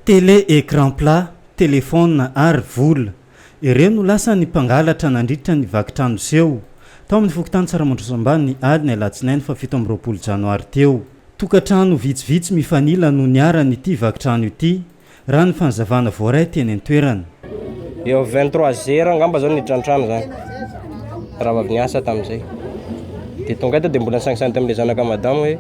Télé écran plat, telefaona ary vola. Ireo no lasa ny mpangalatra nandritra ny vaky trano seho tao amin'ny fokontany Tsaramandroso Ambany ny alin'ny alatsinainy fahafito amby roapolo janoary teo. Tokantrano vitsivitsy mifanila no niharan'ity vaky trano ity, raha ny fanazavana voaray teny an-toerana. Eo amin'ny vingt trois heures angamba izao no niditra ny trano izany, raha vao avy niasa tamin'izay. Dia tonga eto dia mbola nisangisangy tamin'ilay zanaka madama hoe.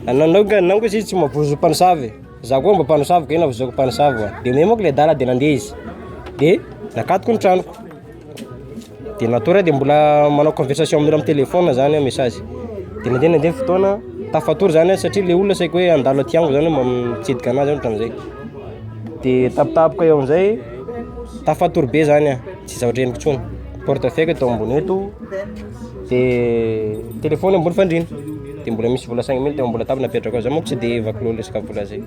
Anao anao nga anao nga zay tsy mavozo mpanosavy, za koa mba mpanosavy kay navozoako mpanosavy oa, de omeo manko le adala de nandeha izy, de nakatoko ny tranoko, de natory aho de mbola manao conversation amin'olo amin'ny telefona zany aho message, de nandeha nandeha ny fotoana tafatory zany aho satria le olona saiko hoe handalo aty amiko zany mitsidika anah zany ohatran'izay, de tampotampoka eo amizay tafatory be zany aho. tsy zaho reniko tsony porte fake tao ambony eto de telefony ambony fandrina de mbola misy vola cinq mille teo ambola tavina petraka za moko tsy de vakilo lesaka vola zay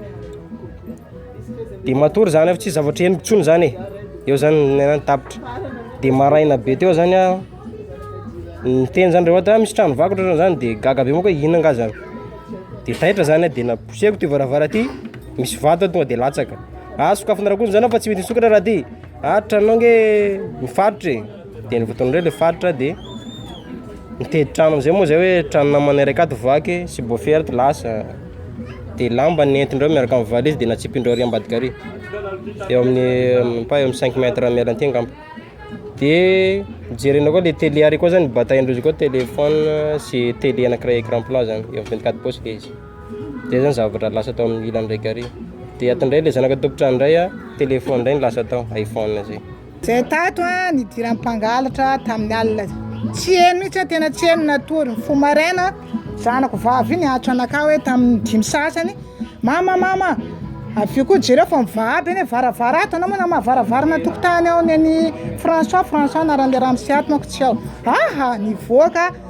de matory zany fa tsy zavatra henoko tsony zany e eo zany nenany tapitra de maraina be teo zany a niteny zany rehoa ta misy trano vakotra zany zany de gaga be moko hina nga zany de taitra zany de naposeko ty varavara ty misy vato tonga de latsaka ah sokafinareo koa zany fa tsy mety misokatra raha ty Atra anao nge mifaritra e, de ny votoatin'izay le mifaritra de mitety trano amizay moa zay hoe trano namana iray akato vaky, subwoofer ato lasa, de lamba nentindreo miaraka amin'ny valizy de natsipindreo ary ambadika ary, eo amin'ny pas eo amin'ny cinq mètre miala anty angamba, de jerena koa le tele ary koa zany batain'izy koa telephone sy tele anakiray écran plat zany, eo amin'ny vingt quatre pouces le izy. Zay zany zavatra lasa tao amin'ny ilany raika ary, dia ato indray ilay zanaka an-tompon-trano indray an, téléphone indray no lasa tao, iPhone zay. Zay tato an, nidiran'ny mpangalatra tamin'ny alina. Tsy heno mihitsy an, tena tsy heno natory. Ny fo maraina, zanako vavy iny atso anakah hoe tamin'ny dimy sasany, mama mama, avy eo koa jereo fa mivahaba eny varavara ato, anao moa namaha varavara na tokotany ao neny François, François anaran'ilay ramose ato manko tsy ao, aha, nivoaka.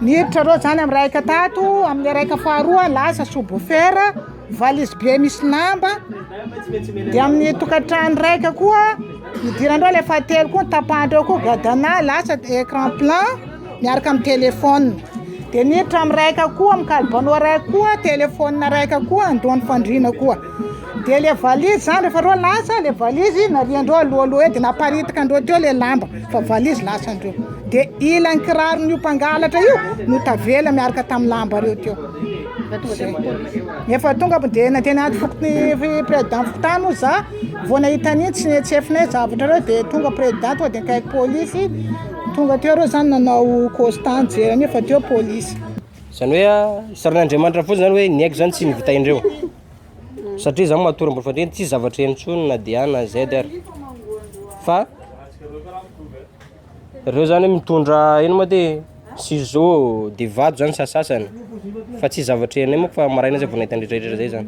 Niditra reo zany am raika tato am le raika faharoa lasa subwoofer valise be misy lamba de am ny tokatrano raika koa idirandreo le fahatelo koa tapahindreo koa gadana lasa ecran plan miaraka am telephone de niditra am raika koa am kalbano raika koa telephone raika koa andohan'ny fandriana koa. Dia le valise zany rehefa reo lasa le valise nariandreo alohaloha eo de naparitaka andreo teo le lamba fa valise lasa andreo de ilan'ny kiraron'io mpangalatra io no tavela miaraka tamin'ny lamba reo teo efa tonga de nandeha naty fokony président fokontany moa za vao nahita an'iny tsy tsy efinay zavatra reo de tonga président tonga de nikaiky polisy tonga teo reo zany nanao costa nijery an'io fa teo polisy zany hoe saron'Andriamanitra fotsiny zany hoe ny aiko zany tsy ny vita indreo satria za matory ambony fandriana tsisy zavatra heno tsony na DH na Z ary, fa reo zany mitondra ino ma ty ciseaux de vato zany sasasany fa tsisy zavatra henonay manko fa maraina zay vao nahita anle retraretra zay zany,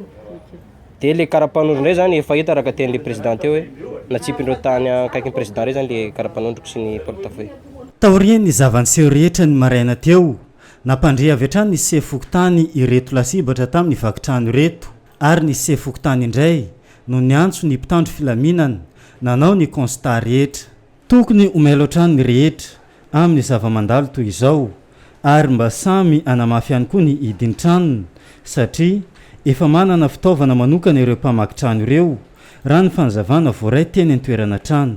de le karapanondro ndray zany efa hita raha ka tianle prezida teo hoe natsipindreo tany akaikin'ny prezida rey zany le karapanondroko sy ny porte feuille. Taorian'ny zava-niseho rehetra ny maraina teo, Nampandre avy hatrany ny sefo fokontany ireto lasibatra tamin'ny vaky trano ireto ary ny sefo fokontany indray no niantso ny mpitandro filaminana nanao ny constat rehetra. Tokony ho mailo hatrany ny rehetra amin'ny zava-mandalo toy izao ary mba samy hanamafy ihany koa ny hidin-tranony satria efa manana fitaovana manokana ireo mpamaky trano ireo, raha ny fanazavana voaray teny an-toerana hatrany.